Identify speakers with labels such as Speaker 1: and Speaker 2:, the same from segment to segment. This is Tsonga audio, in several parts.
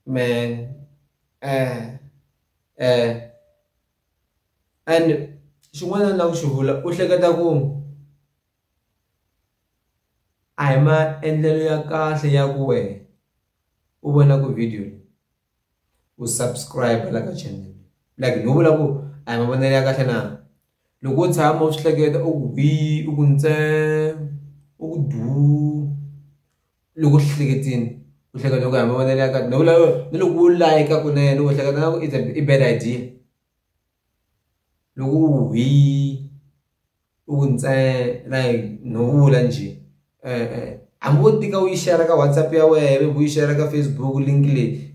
Speaker 1: man, eh, eh, and xin'wana na ku xi vula u hleketa ku a hi maendlelo ya kahle ya ku wena u vona ku video u subscribe la ka channel like no vula ku a hi mavonelo ya kahle na Loko wo tshama u swi hleketa u ku hi u ku ntsee u ku duu loko u swi hleketile u hleketa loko hi mavonelo ya kahle loko u lava ni loko u like kunene u hleketa na ku i i bad idea loko u ku hi u ku ntsee like no vula njhe hambi wo tika u yi share ka WhatsApp ya wena u yi share ka Facebook link leyi.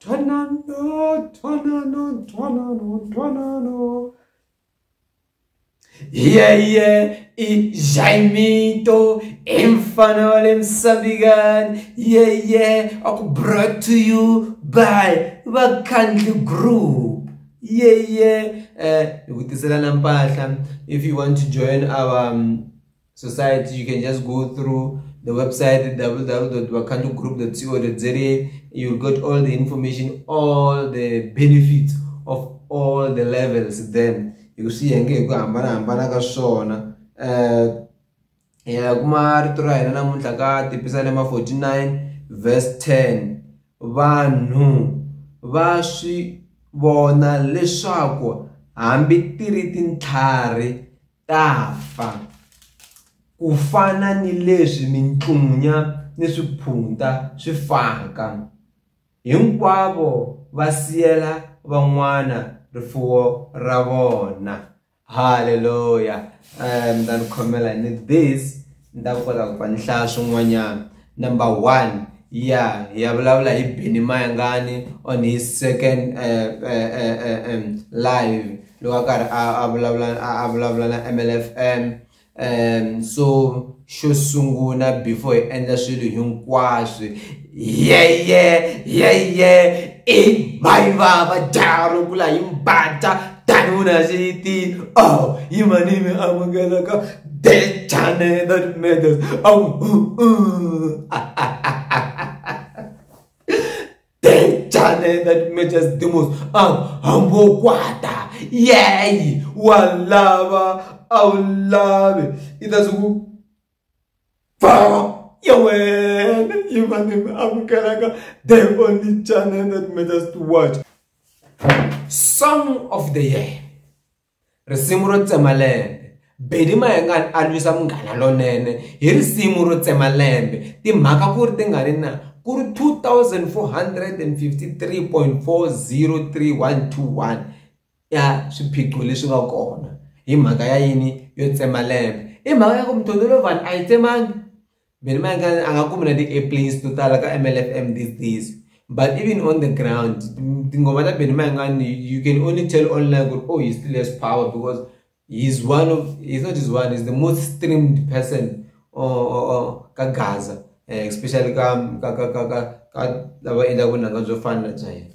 Speaker 1: Ntwanano, ntwanano, ntwanano, ntwanano. Yeye i Jaimito i mfana wa le Msabigani. Yeye aku brought to you by Vakhandli Group. Yeye eh, hi ku tiselana mpahla if you want to join our um, society you can just go through the website www.bakandugroup.co.za you'll get all the information all the benefits of all the levels then hi ku swi yenge hi ku hambanahambana ka swona um ya kuma rito ra hina namuntlha ka tipisalema 49 verse 10 vanhu va swi vona leswaku hambi ti ri tintlhari ta fa ku fana ni leswi mintlunya ni swiphunta swi faka hinkwavo va siyela van'wana rifuwo ra vona haleluya um ni ta ni khomela ni this Ni ta kota ku va ni hlaya swin'wanyana number one ya hi ya vulavula hi Benny Mayengani on his second uh, uh, uh, um, live loko a karhi a vulavula a vulavula na MLFM um so xo sungula before hi endla swilo hinkwaswo yeye yeye i mai vava dyaro ku la hi mbata tanuna xiti oh yi mani mi amukelaka the channel that matters oh uh, uh. the channel that matters the most ah hambo kwata yeye wa lava a wu lavi i ta swi ku Baba ya wena yi va ni mi amukelaka the only channel that matters to watch song of the year risimu ro tsema lembe bedi mayengani a lwisa munghana lonene hi risimu ro tsema lembe timhaka ku ri ti nga ri na ku ri 2453.403121 ya swiphiqo leswi nga kona hi mhaka ya yini yo tsema lembe i mhaka ya ku mutondolovan a yi tsemangi vhele ma nga a nga kumi na ti-airplanes to tala ka mlfm these days but even on the ground tingoma ta beni ma nga ni you can only tell online ku oh he still has power because he's one of he's not his one he's the most streamed person oh, oh, oh, ka gaza eh, especially ka ka ka ka ka lava endlaka vunanga byo fana na bya yena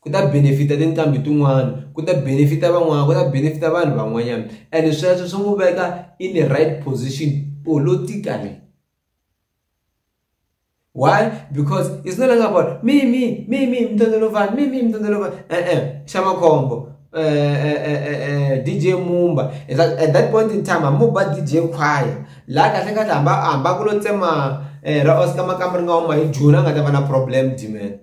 Speaker 1: ku ta benefit-a tinqambi tin'wana ku ta benefit-a van'wana ku ta benefit-a vanhu van'wanyana and sweswo swi n'wi veka in the right position politically why because it's not long about me me me me mtondolovan me me mtondolovan e-e xa makhombo DJ Mumba is that at that point in time mo ba DJ Choir la kahle kahle hamba hamba ku lo tsema ra Oscar Makamuri nga huma hi June a nga ta va na problem Dimen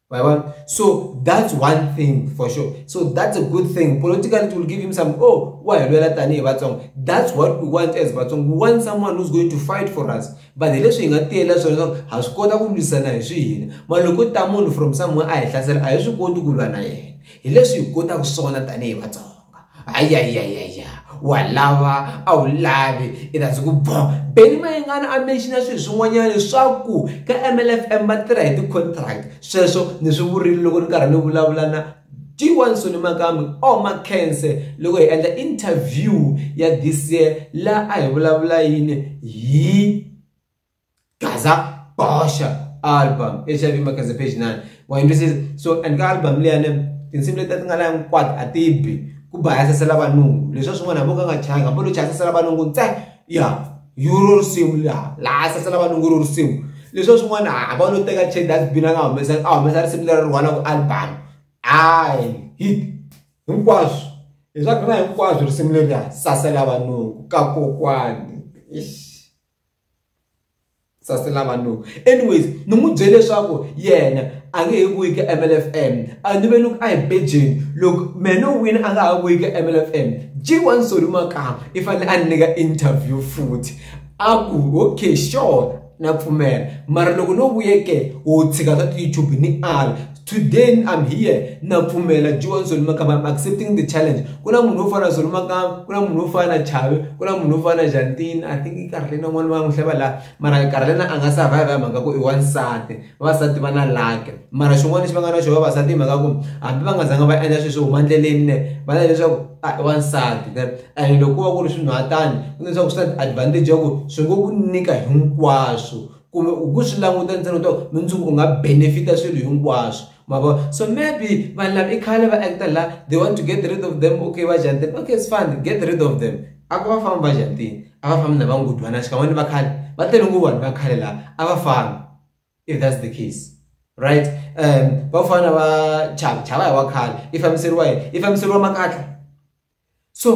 Speaker 1: Right? So that's one thing for sure. So that's a good thing. Politically, it will give him some, oh, why? That's what we want as Batsong. We want someone who's going to fight for us. But the leswi hi nga tiyela swona ha swi kota ku lwisana hi swiyini. Maloko ta munhu from somewhere a hi hlasela a hi swi koti ku lwa na yena. Hi leswi hi kotaka swona tanihi Vatsonga. ayayayaya wa lava a wu lavi i ta ndzi ku bo Benny Mayengani a mention-a swilo swin'wanyana leswaku ka M_L_F_M va tirha hi ti-contract sweswo ni swi vurile loko ni karhi ni vulavula na G1 Soni Makambe or Makhense loko hi endla interview ya this year laha a hi vulavula yini hi. gaza bosha album hiv makaze page 9 wayintwisisa so and ka album leyane tinsimu leti ti nga la hinkwato a ti bi ku bayasasela vanungu leswi swin'wana hambi u nga nga changi hambi lo chayasasela vanungu ntsena ya yuro risimu laha laha sasela vanungu ro risimu leswi swin'wana hava lo teka che dustbin a nga humesa a humesa risimu leri rhwala ku album hayi hit hinkwaswo leswaku na hinkwaswo risimu leriya sasela vanungu ka kokwani ish sase lava no anyways ni n'wi byele leswaku yena a nge he vuyi ka MLFM a ni ve ni ku a hi bejeni loko mehe no wina a nga ha vuyi ka MLFM G1 Solly Makamba i fanele a ni nyika interview futhi a ku okay sure na pfumela mara loko no vuyeke wo tshika swa ti-YouTube ni ala. Today I'm here na pfumela Joan Zolimakamba I'm accepting the challenge ku na munhu wo fana na Zolimakamba ku na munhu wo fana na Chavi ku na munhu wo fana na Jantini I think i Karlena n'wana va n'wi hleva laha mara Karlena a nga survive hi mhaka ku i wansati vavasati va na lake mara xin'wana lexi va nga na xona vavasati hi mhaka ku hambi va nga zanga va endla sweswo huma ndleleni ne va na leswaku a ah, i wansati and loko ku va ku ri swinhu hatani ku leswaku swi na advantage ya ku swi ngo ku nyika hinkwaswo kumbe u ku swi languta ntsena u to mundzuku u nga benefit swilo hinkwaswo ma vo so maybe vanhu lava i khale va act la they want to get rid of them okay va jantini okay it's fine get rid of them a ku va fambi va jantini a va fambi na va ngudwana xikan'we ni va khale va tele ngopfu vanhu va khale laha a va fambi if that's the case right um va fana va chava chava hi wa khale i fambiseriwa hi i fambiseriwa makatla so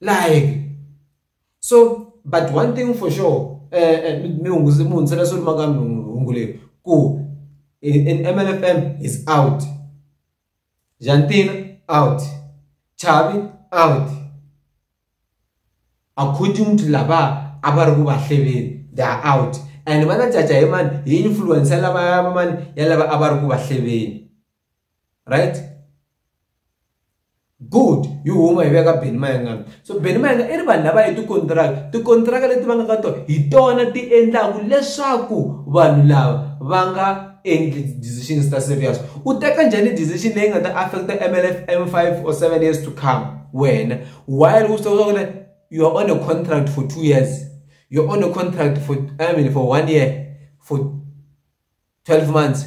Speaker 1: like so but one thing for sure eh, eh mi hunguze mi hundzela swo maka hungu leyi ku MLFM is out Jantina out Chavi out according to lava a va ri ku va hleveni they are out and va na jaja hi mani hi influence lava mani ya lava a va ri ku va hleveni right good yi huma hi veka beni mayengana so beni mayenga i ri vanhu lava hi tikontiraka tikontiraka leti va nga ka tona hi tona ti endlaku leswaku vanhu lava va nga endli decisions ta serious u teka njhani decision leyi nga ta affecta mlf m five or seven years to come wena while u swi tiva ku you are on a contract for two years you're on a contract for i mean for one year for twelve months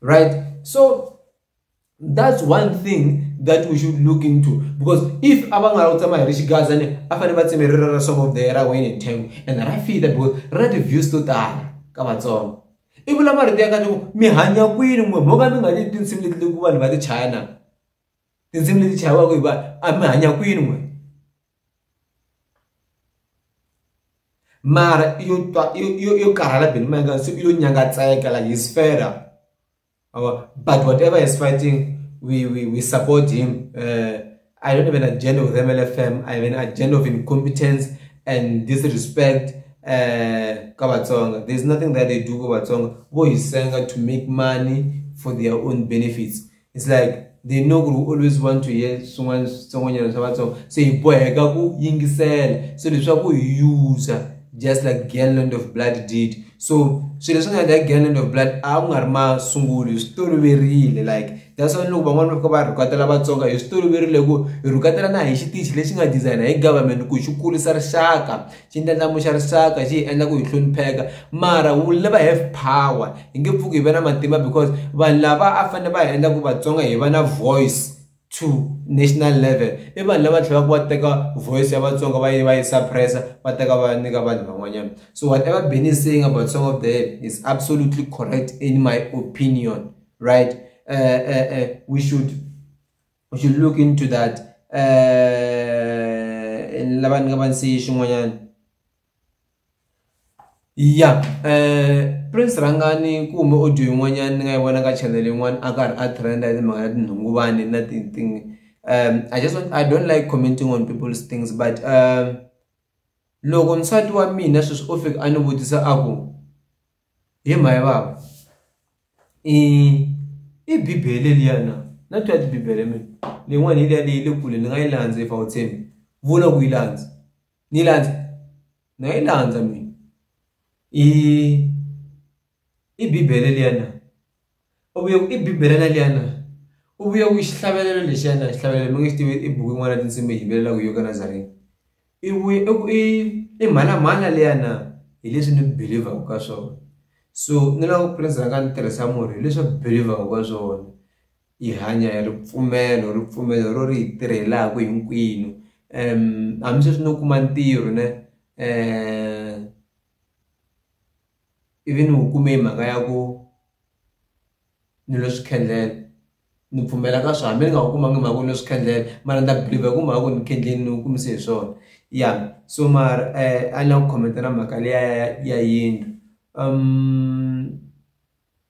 Speaker 1: right so that's one thing that we should look into because if abangala utsamaya ri xigaza ne a fane va tsemerera ra swavo there ra wayne ntengo and ra fita because ra ti-views to tala ka vatsongo i vula marito ya ka loko mi hanya kwini n'we mo ka mi nga ni tinsimu leti leku vanhu va ti chaya na tindzimi leti chayiwaka hi vanhu a mi hanya kwini n'we mara yo twa yo yo karhala beni ma nga se yo nyangatseka like his father our but whatever is fighting we we we support him uh, i don't have an agenda with mlfm i have an agenda of incompetence and disrespect uh, ka vatsonga there's nothing that they do ka vatsonga vo hi senga to make money for their own benefits it's like they know ku ri we always want to hear swin'wana switsongonyana swa vatsonga se hi boheka ku yingisela so leswaku hi user just like galland of blood did so swilo leswi nga endla galland of blood a ku nga ri masungulo hi swi toloverile like that's why loko van'wana va fika va rhukatela vatsonga hi swi toloverile ku hi rhukatela na hi xitichi lexi nga designer hi government ku xi kurisa rixaka xi ndlandlamuxa risaka xi hi endla ku hi hlonipheka mara wu lava have power hi nge pfuki hi va na matimba because vanhu lava a fanele va hi endla ku vatsonga hi va na voice to national level i vanhu lava tlhelaka va teka voice ya vatsonga va yi va yi suppressa va teka va nyika vanhu van'wanyana so whatever benny is saying about song of the head is absolutely correct in my opinion right uh, uh, uh, we should we should look into that eh lava ni nga va ni siyi xin'wanyana ya eh prince rhangani kumbe audio yin'wanyana ni nga yi vona ka channel yin'wana a karhi a trenda hi timhaka ta tinhunguvani na tinting um i just want, i don't like commenting on people's things but um loko nsati wa mina sweswi o fika a ni vutisa a ku hi mhani hi vava i i bibele liya na na twa tibibele mina leyin'wana hi liya leyi le kule ni nga yi landza if a wu tshembi vula ku yi landza ni yi landza ni nga yi landza mina i i bibele liya na u vuye i bibele leliyana u vuye ku xihlavelelo lexiyana xihlavelelo mi nge xi tivi i buku yin'wana ya tinsimu yi yimbelelaka yo ka nazareni i vuye i ku i i mhalamhala liyana hi leswi ni believer-ku ka swona so ni lava ku prince rhanga ni tirhisa murhi hileswaku believer-ku ka swona yi hanya hi ripfumelo ripfumelo ro ri yi tirhelaka hinkwenu hambi sweswi no kuma ntirho ne um ivi ni wu kume hi mhaka ya ku ni lo swi khendlela ni pfumela ka swona hambi ni nga wu kumanga mhaka ni lo swi khendlela mara ni ta believer hi ku mhaka ku ni khendleni ni wu kumise hi swona ya so mara a ni la ku comment-a na mhaka liya ya ya yindlu .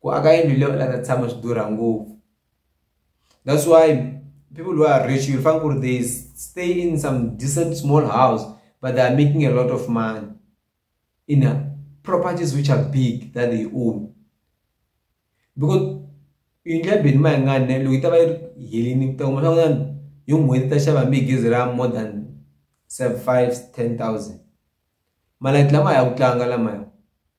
Speaker 1: ku aka yindlu leyi u la ta tshama swi durha ngopfu that's why people who are rich you'll find ku ri they stay in some decent small house but they are making a lot of money in a properties which are big that they own because yindlu ya beni ma yi nga ne loko yi ta va yi ri helini ku ta kuma swa kutani hi n'hweti ta xava hambi hi gezi ra more than seven five ten thousand malati lama ya ku tlanga lamaya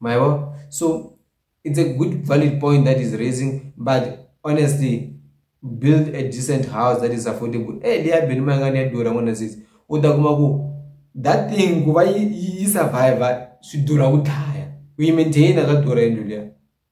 Speaker 1: mayabo so it's a good valid point that is raising but honestly build a decent house that is affordable e eh, liya beli ma nga ni ya durha n'wana sisi u ta kuma ku that thing ku va yi yi survivor swi durha ku dlaya ku yi maintaina ka durha yindlu liya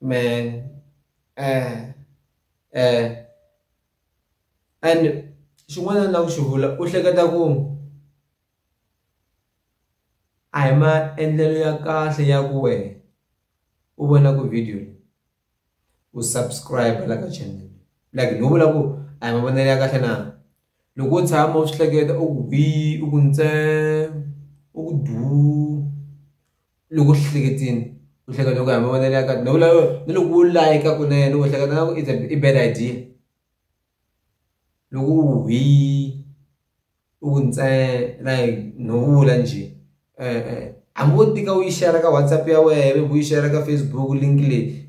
Speaker 1: man eh eh and xin'wana ni lava ku xi vula u hleketa ku a hi maendlelo ya kahle ya ku wena u vona ku video u subscribe la ka channel like no vula ku a hi mavonelo ya kahle na loko u tshama u swi hleketa u ku bi u ku ntse u ku du loko swi hleketini u hleketa loko hi mavonelo ya kahle loko loko ni loko u layeka kunene u hleketa na ku it's a i bad idea loko u hi u ku ntsena like no vula njhe e-e hambi wo tika u yi share ka WhatsApp ya wehe u yi share ka Facebook link leyi.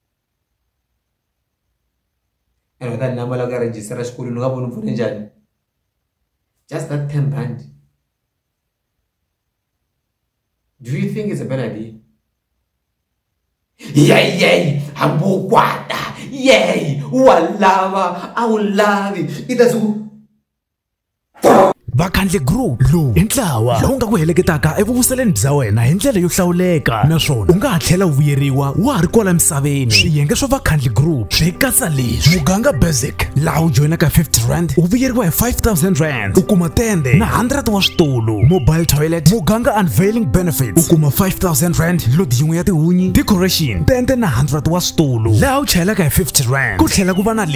Speaker 1: ene ka namba la ka register ra xikolweni u nga voni pfune njhani just that ten rand do you think it's a bad idea yeyey hambi u kwata yey wa lava a wu lavi i ta siku vakhandle group lowu i ntlawa lowu nga ku heleketaka evuvuseleni bya wena hi ndlela yo hlawuleka naswona u nga ha tlhela u vuyeriwa wa ha ri kwala misaveni swiyenge swa vakhandle group swi katsa leswi muganga basic laha u joyinaka 50 rand u vuyeriwa hi 5000 rand u kuma tende na 100 wa switulu mobile toilet muganga unveiling benefits u kuma 5000 rand lodi yin'we ya tihunyi decoration tende na 100 wa switulu laha u chayelaka hi 50 rand ku tlhela ku va na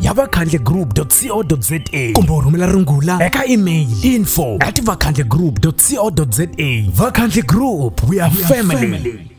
Speaker 1: ya vakhandle group co za kumbe u rhumela rungula eka email info at vakhandle group co za vakhandle group we are family, family.